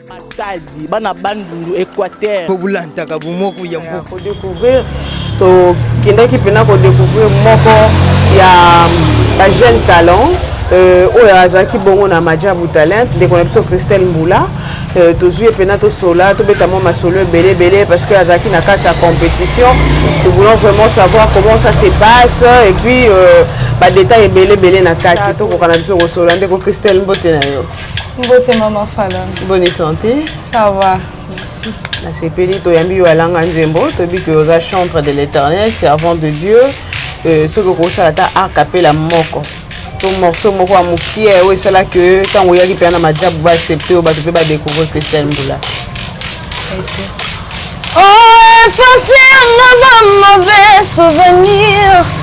Matadi bana bandundu Equateur po bulantaka bumoko ya mboka ko découvrir to kendaki pena ko découvrir moko ya ba jeune talent euh, oyo azalaki bongo na majabu talent ndeko na biso christelle mbula euh, tozwi ye mpena tosola tobeta mwa masolo ebele ebele parce que azalaki na kati ya compétition nous voulons vraiment savoir comment ça se passe et puis euh, badetail ebele ebele na kati tokoka na biso kosolola ndeko christelle mbote na yo Mbote mama Fala. Bonne santé. Ça va. Merci. Nasepeli toyambi yo alanga nzembo toyebi ke oza chantre de l'éternel servant de Dieu euh, soki okosala ata arc apela moko to morceau moko ya mokie oyo esala ke ntango oyaki mpe na majabu baaccepte oyo bato mpe badécouvrir christian mbula Oh, effacer nos mauvais souvenirs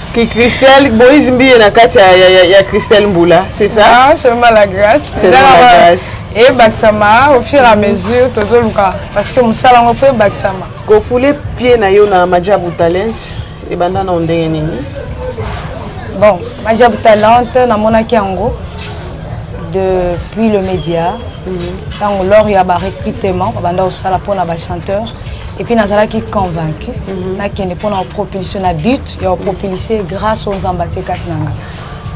Ki Christelle Moïse Mbiye na kati ya, ya, ya, ya Christelle Mbula, c'est ça? Ah, c'est mal la grâce. C'est mal la grâce. Et Baksama, au fur et à mesure, Tozo Luka. Parce que Moussala, on fait Baksama. Ko foule pied na yo na Majabu Talent, et banda na ondenge nini? Bon, Majabu Talent, na mona kiango, depuis le média, mhm. tant que l'or y a barré pitement, banda au sala pour na ba chanteur, et puis nazala qui convaincu, mm -hmm. na kende pour na propulsion na but, ya populise grâce o nzambe atie kati na nga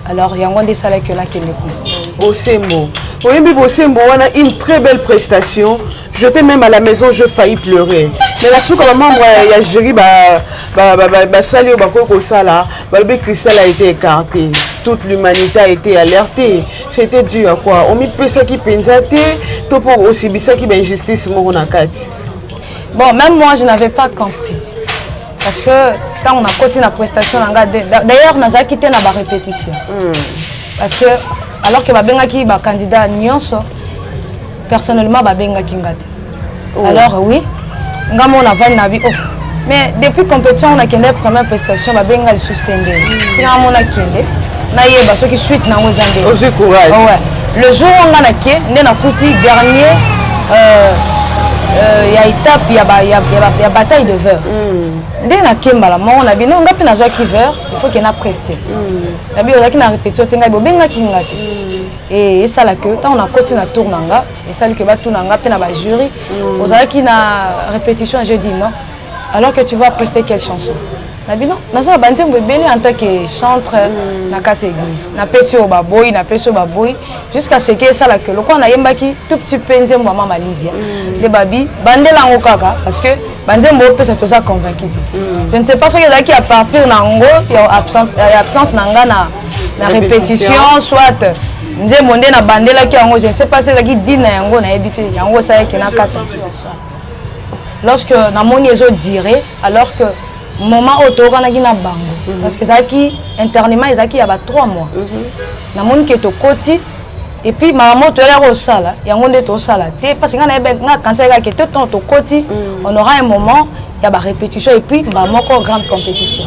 alors yango nde esalaki yo nakende kuna bosembo oyebi bosembo wana une très belle prestation j'étais même à la maison je failli pleurer mais na suka bamembre ya jury basali oyo bakoki kosala balobi cristal a été écarté toute l'humanité a été alertée c'était dû à quoi omipesaki mpenza te to mpo osibisaki bainjustice moko na kati bon même moi je n'avais pas compris parce que ntango nakoti na prestation na nga d'ailleurs nazalaki te na barépétition hmm. parce que alors que babengaki bacandidat nyonso personnellement babengaki nga te oh. alors oui nga mo navandi na bi oh. mais depuis compétition nakende première prestation babenga lisusu te nde ntina hmm. amona kende nayeba soki suite nango eza nde ozwi courage oh, ouais. le jour oyo nga nake nde nakuti dernier euh, euh, ya étape ya, ba, ya, ya, ba, ya bataille de veur mm. nde nake mbala moko na bino nga mpe nazwaki veur faut ke na preste mm. na bino ozalaki na répétition te ngai bobengaki nga te mm. e esala ke ntango nakoti na tour na nga esali ke batuna nga mpe na bajury mm. ozalaki na répétition je dis non alors que tu vas prester quelle chanson na bino naza na banzembo ebele en tant que chantre mm. na kati ya église napesi oyo baboyi napesi oyo baboyi jusqu'à ce que esala ke lokola nayembaki tout petit mpe nzembo ya mama lidia mm. nde babi bandela yango kaka parce que banzembo opesa toza convaincu te mm. je ne sais pas soki ezalaki à partir na yango ya absence, ya absence na nga na, na répétition soit nzembo nde nabandelaki yango je ne sais pas soki ezalaki dine na yango nayebi te yango esalaki na kata lorsque namoni ezodire alors que moment oyo toyokanaki na bango mhm. parce que ezalaki internement ezalaki ya ba 3 mois mhm. namoni ke tokoti epuis makambo toyala kosala yango nde tosala te parce ngai nayebi ngai kanisa kaka te ntango tokoti mhm. on aura un moment ya barépétition epuis mbaa moko grande compétition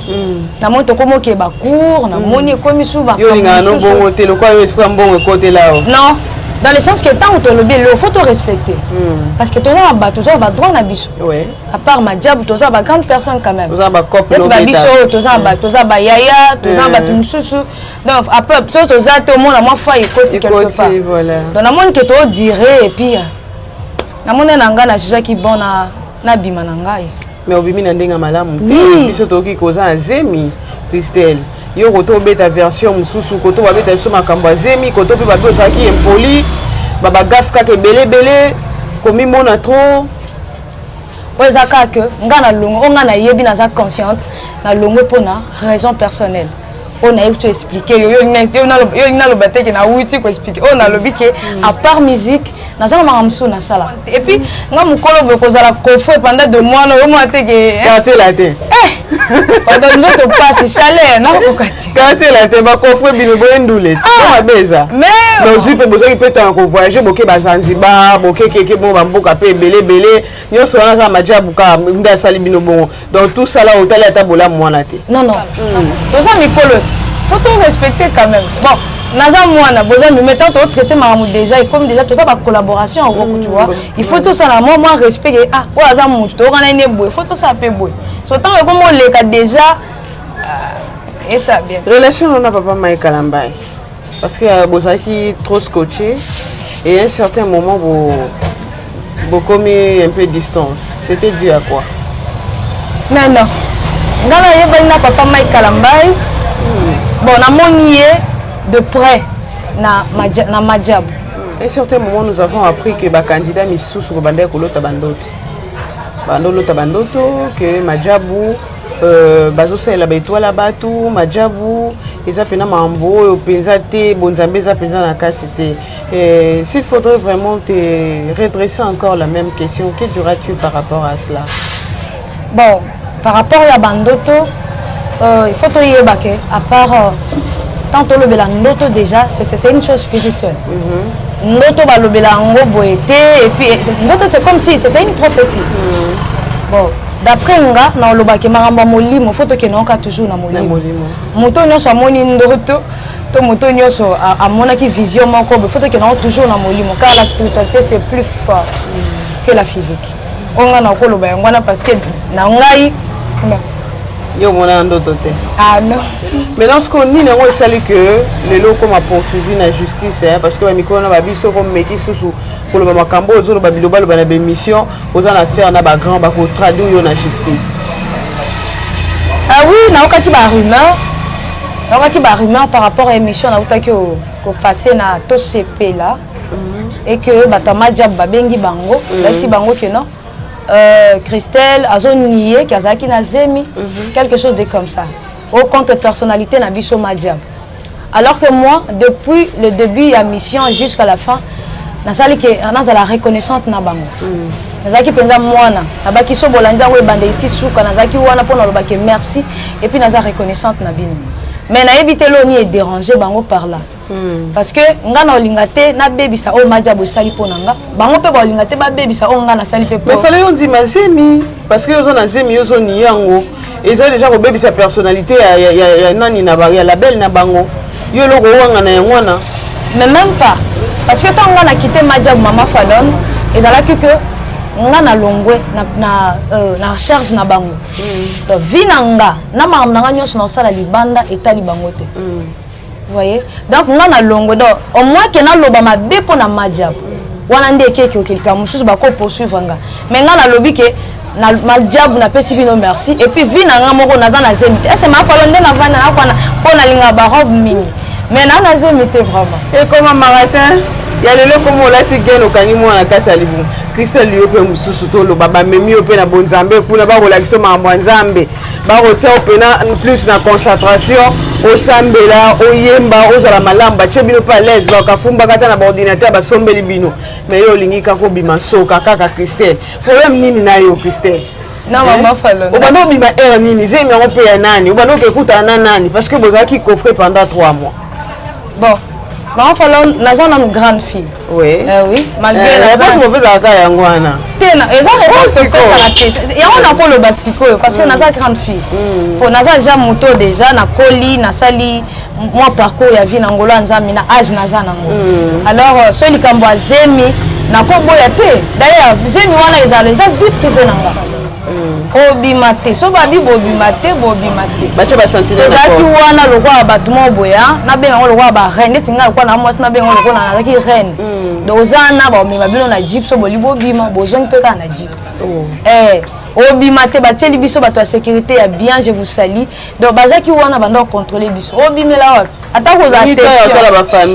namoni tokomi okeba cour namoni ekomi subaolinganaobongo te lokola yo esika mbongo ekotela o non dans le sens que ntango tolobi eloko fo torespecte parce que toza na bato toza na badroit na biso à part majabu toza ba grande personne quand même toza ba cop neti ba biso oyo toza ba toza ba yaya toza bato mosusu donc après soki toza te omona mwa foi ekoti quelque part donc namoni ke too dire epuis namoni na ngai na jugaki bon na nabima na ngai mais obimi na ndenge ya malamu te biso toyoki koza na zemi christelle yo koto obeta version mosusu koto babeta biso makambo ya zemi koto mpe bato ozalaki impoli babagafe kaka ebele ebele komimona trop oyo eza kaka ke nga na longo oyo nga nayebi naza consciente na longo mpo na raison personnelle oyo nayebi to explike yo yo olingi naloba te ke nawuti koexplike oyo nalobi ke mm. à part musique naza na makambo mosusu nasala epuis nga mokolo boye kozala kofue pendant de mois na yo mwa te ke eh. quartier la te eh, odo nzoto mpasi chaleur nakokoka te katela te bakofre bino boye ndule ti ah! mabe eza nozwi mpe bozwaki mpe ntango kovoyage boke bazanzibar bokekeke bongo bamboka mpe ebele ebele nyonso wana kaka majabu kaka nde asali bino bongo donc tout sala otali ata bolamu wana te non non hmm. toza mikolo ti po to respecte quand même bon naza mwana boza mimi tant to traité makambo déjà ekomi déjà toza bacollaboration yango hmm. tu vois il faut tosala mwa mwa respect ah oyo aza motu toyokana ine boye faut tosala mpe boye so ntango ekomi oleka déjà Ah, esa bien. Relation on a papa Mike Kalambaye. Parce que euh, bozaki trop scotché et à un certain moment vous vous commis un peu distance. C'était dû à quoi Non non. Nga na yebali na papa Mike Kalambaye. Hmm. Bon, na moni de près na na Majabu. À un certain moment nous avons appris que ba candidat misusu ko banda ko lota bandoto. Bando lota bandoto que Majabu Euh, bazosalela baetoile ya bato majabu eza mpena mambo oyo mpenza te bonzambe eza mpenza na kati te euh, s'il faudrait vraiment te redresser encore la même question que diras-tu par rapport à cela bon par rapport ya bandoto euh, il faut toyeba ke à part euh, tant tolobela ndoto déjà c'est une chose spirituelle mm -hmm. ndoto balobela yango boye te epuis ndoto c'est comme si c'est une prophétie mm. bon d'après nga na olobaki makambo ya molimo fo tokende oka toujours na molimo moto nyonso amoni ndoto to moto nyonso amonaki vision moko boye fo tokende yango toujours na molimo car la spiritualité c'est plus fort que la physique oyo ngai nakoloba yango wana parce que na ngai yo omona na ndoto te ah non maintenant sikoyo nini yango esali ke lelo okoma poursuivi na justice parce que bamikolo na babiso komeki susu koloba makambo oyo ozoloba bilobaloba na bemission oza na affaire na ba grand bako traduire yo na justice ah oui naokaki ba rumeur naokaki ba rumeur par rapport à émission nautaki kopase na tosepela mhm. et que bato ya majab babengi bango mhm. bayisi bango ke non euh, christelle azo nie ke azalaki na zemi mhm. quelque chose de comme ça au contre personnalité na biso Madiab. Alors que moi, depuis le début ya mission jusqu'à la fin, nasali ke nazala reconnaissante na bango. Mm. nazalaki mpenza mwana nabaki so bolandi yango ebandeli ti suka nazalaki wana mpo naloba ke merci epuis naza reconnaissante na bino mais nayebi te loni edérange bango par là Hmm. parce que nga na olinga te nabebisa oyo majabo esali mpo na nga bango mpe baolinga te babebisa oyo nga nasali mpe mais fale yo ndima zemi parce que oza na zemi yo ozoni yango eza deja kobebisa personnalité ya, ya, ya, ya nani na ya label na bango yo eloko owanga na yango wana mais même pas parce que ntango nga na kite majabo mama falone ezalaki que nga na longwe na, na, euh, na recherche na bango mm. donc vi na nga na makambo na nga nyonso na kosala libanda etali bango te mm. voyez donc nga na longo donc au moins ke naloba mabe mpo na majab wana nde ekeke okelika mosusu bako poursuivre nga mais nga nalobi ke na majabu napesi bino merci et puis vie na nga moko naza na zemi te ese makolo nde navanda nakwana mpo nalinga barobe mingi mais na na zemi te vraiment ekoma maratin ya lelo ekoma olati gene okangi mwana kati ya libumu kristel yo mpe mosusu toloba bamemi yo mpe na bonzambe kuna bakolakisa makambo ya nzambe bakotia yo pena plus na concentration osambela oyemba ozala malamu batie bino mpe alaise bakafumbaka ata na baordinateur basombeli bino me yo olingi kaka obima nsoka kaka christelle problème nini na yo christelle na mama eh? falona obanda obima heure nini zemi yango mpe ya nani obanda okekutana na nani parce que bozalaki coffre pendant 3 mois bon maman falo naza nanu grande fille oui eh, oui malgré eh, réponse mopesaka kaka yango wana te eza réponse opesaka te yango nakoloba sikoyo parce que mm. naza grande fille mpo mm. naza ja moto déjà nakoli nasali mwa parcours ya vie na ngolo ya nzambe na age naza nango mm. alors euh, soki likambo ya zemi nakoboya te d'ailleurs zemi wana ezala eza vie privé na nga obima te so babi bobima te bobima te bato basantinezalaki wana lokola bato moko boya nabenga yango lokola bareine neti ngai lokola na mwasi nabenga yango lokola nazalaki reine mm. donc oza na baomema bino na jip so boli bobima bozongi mpe kaka na jip oh. eh, obima te batieli biso bato ya sécurité ya bien je vous sali donc bazalaki wana banda kocontrole biso obimela wapi ata kozala te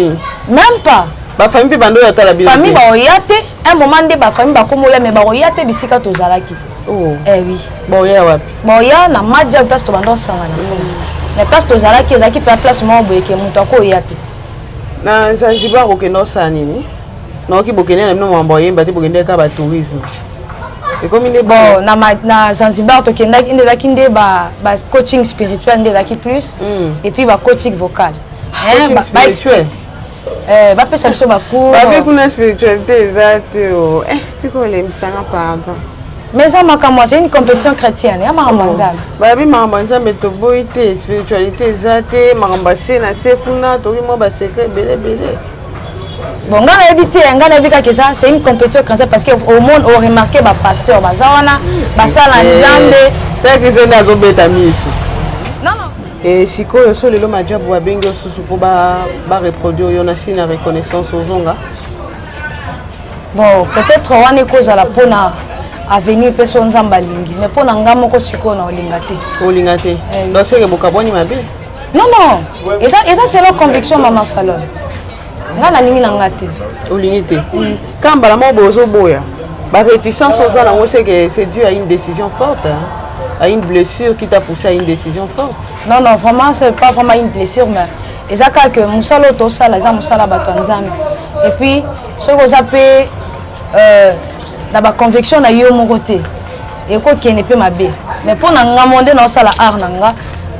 même pas bafamille mpe banda oyo atala bino famille baoya te un moment nde ba famille ba komola mais ba koya te bisika tozalaki oh eh oui boya wapi boya na maja place to bando sangana mm. mais place tozalaki ezalaki pe place moko boye ke moto akoya te na zanzibar okende osala nini naoki bokende na bino mambo oyemba te bokende kaka batourisme ekomi nde bon na, na zanzibar tokendaki nde ezalaki nde ba, ba coaching spirituel nde ezalaki plus mm. et puis ba coaching vocal hein, ba, ba, Eh, bapesa biso bacour babe kuna spiritualité eza te o eh, tika olembisanga pardon mais eza makambo azali une compétition chrétienne ya makambo ya oh. nzambe babi makambo ya nzambe toboyi te spiritualité eza te makambo ya se na se kuna toki mwa basecret ebele ebele bon ngai nayebi te ngai nayebi kaka eza c'est une compétition chrétienne parce que au monde au remarqué bapasteur baza wana basala eh, nzambe teke eza nde azobeta miso e sikoyo so lelo majabu babengi yo susu mpo bareproduire ba yo na si na reconnaissance ozonga bon peut-être wana ekozala mpona avenir mpe so nzambe alingi mais mpo na ngai moko sikoyo na olinga te olinga te eh. donc seke bokabwani mabe non non eza selo conviction mama falone nga nalingi na nga te olingi te mm. ka mbala moko bozoboya baréticence oza nango seke c'est dû à une décision forte hein? à une blessure qui t'a poussé à une décision forte non non vraiment c'est pas vraiment une blessure mais eza kaka ke mosala oyo tosala eza mosala ya bato ya nzambe et puis soki oza mpe euh, na baconvection na yo moko te ekokende mpe mabe mais mpo na nga mo nde naosala art na nga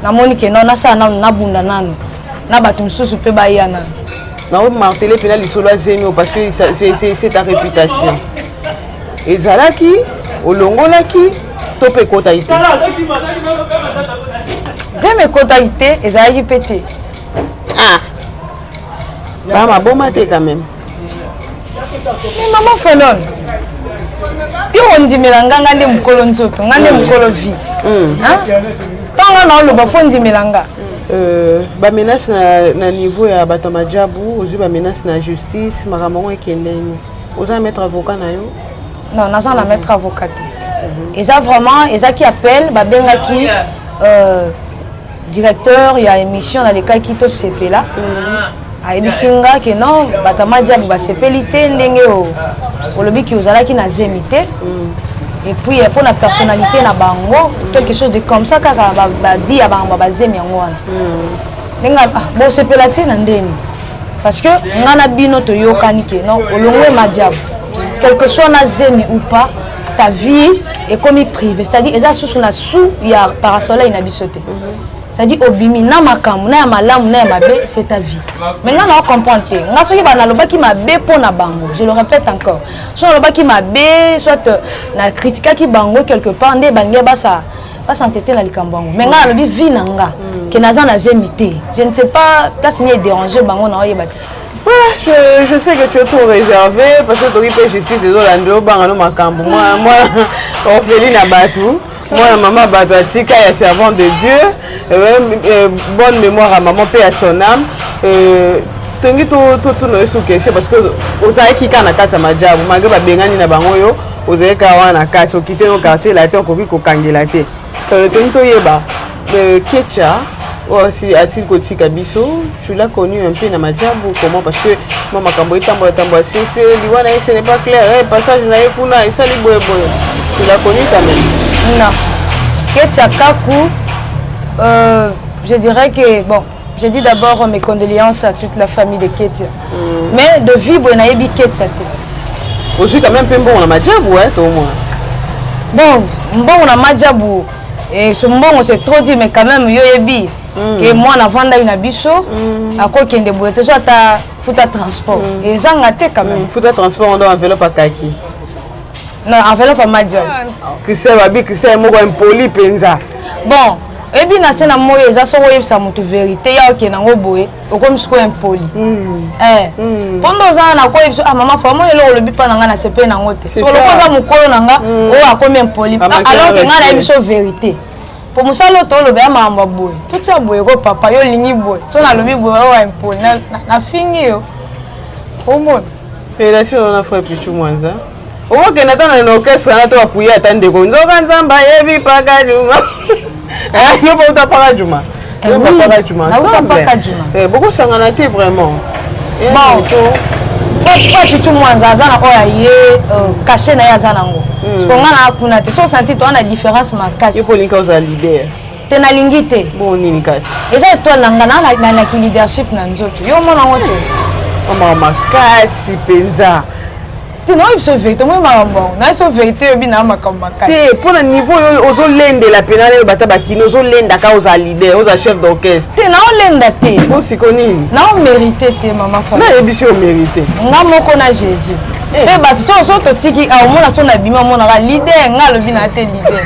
namoni ke no nasala nanu nabunda nanu na bato mosusu mpe baya nano naomartele mpena lisolo ya zemi oyo parce que c'est ta réputation ezalaki olongolaki to mpe ekotaki te zemi ekotaki te ezalaki mpe te ah. bamaboma te quand même mais mama fanon yo ondimela nga nga nde mokolo nzoto nga nde mokolo vie ntango hmm. naoloba fo ondimela nga Euh, bamenace na, na niveau ya bato ya majabu ozwi bamenace na justice makambo yango ekende nini oza na maître avocat na yo non naza na maître avocat te mhm. eza vraiment ezaki appel babengaki euh, directeur ya émission nalekaki tosepela ayebisi nga ke non bato ya madiabu basepeli te ndenge olobi ki ozalaki na zemi te et puis mpo na personnalité na bango quelque chose de comme ça kaka badi ya bango bazemi yango wana ndenge ah, bosepela te na ndeni parce que nga na bino toyokani ke non olongwe madiabu quelque soit na zemi ou pas ta vie ekomi privé c'est à dire eza susu na sous ya parasoleil na biso te c'est à dire obimi na makambo na ya malamu na ya mabe c'est ta vie mais nga nao comprendre te nga soki bana alobaki mabe mpo na bango je le répète encore soki nalobaki mabe soit euh, na critiquaki bango quelque part nde balingi basa basantete na likambo yango mais nga nalobi vie na nga mm. ke naza na zemi te je ne sais pas place ni edérange bango naoyeba te Voilà, je, je sais que tu es trop réservé parce que toki pe justice ezolanda obanga no makambo mwana mwana ofeli na bato mwana mama bato atika ya servant de dieu euh, euh, bonne mémoire ya maman mpe ya son âme euh, tongi totuna yo sukestion parce que ozalaki kaka na kati ya majabu malgre babengani na bango yo ozalaki kaka wana na kati okite no quartier latin okoki kokangela te tongi toyeba Euh, Kecha, oh, si, a-t-il kotika biso tu l'as connu un peu na majabu comment parce que mwa makambo etambola tambola sese liwa na ye ce n'est pas clair eh, passage na ye kuna esali boye boye tu l'as connu quand même non ketia kaku euh, je dirais que bon Je dis d'abord mes condoléances à toute la famille de Ketia. Mm. Mais de Vibwe nayebi Ketia te. Ozwi quand même mpe mbongo na majabu eh, to mwana. Bon, mbongo na majabu et ce mbongo c'est trop dit mais quand même yo yebi mm. que mwana avandaki na biso mm. akokende boye te so ata futa transport mm. ezanga te quand même. Mm. Futa transport ndo enveloppe akaki. na enveloppe ya major christian babi christian moko impoli mpenza bon oyebi na se na moi eza soki oyebisa motu verité ya okende yango boye okomi siko impoli mpo hmm. eh. hmm. nde oza wana koyebisa ah mama fama eloko olobi mpa na ngai na sepe na yango te soloko oza mokolo na nga hmm. oyo akomi impoli ah, alors ke ngai nayebi so verité mpo mosala oyo tolobela makambo ya boye totia boye ko papa yo olingi boye so nalobi boye oyo impoli nafingi yo omona Relation na na frère Pichu Mwanza. Okokende ata na orchestre na to apuye ata ndeko nzoka nzamba yebi paka juma. Eh, yo bauta paka juma. Eh yo paka juma. Nauta paka juma. Eh, bokosangana te vraiment. Eh, bon. Frère Pichu Mwanza aza na oyo aye euh, cachet na ye aza nango. Hmm. Siko nga na kuna te. So senti to ana différence makasi. Yo polinka oza leader. te nalingi te bongo nini kasi eza etoile na nga nalaki leadership na nzoto yo omona yango te omaka makasi mpenza te naoyi biso verité omoi makambo yango naye so verité oyebi na makambo makasi te mpo na niveau oyo ozolendela mpena nayo bata bakini ozolenda ka oza leader oza chef d'orchestre te naolenda te o siko nini naomérité te mama fa nayebisi yo mérité nga moko na jésus eh. mpe bato so so totiki aomona ah, so na bima omonaka leader nga alobi na te leader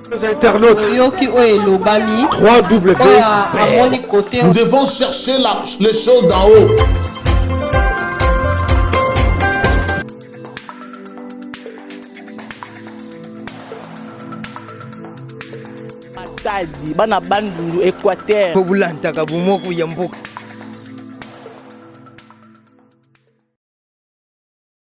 Les internautes. Oyoki oyo elobami. 3 W. Nous devons chercher la, les choses d'en haut. matadi bana bandundu équateur kobulantaka bomoko ya mboka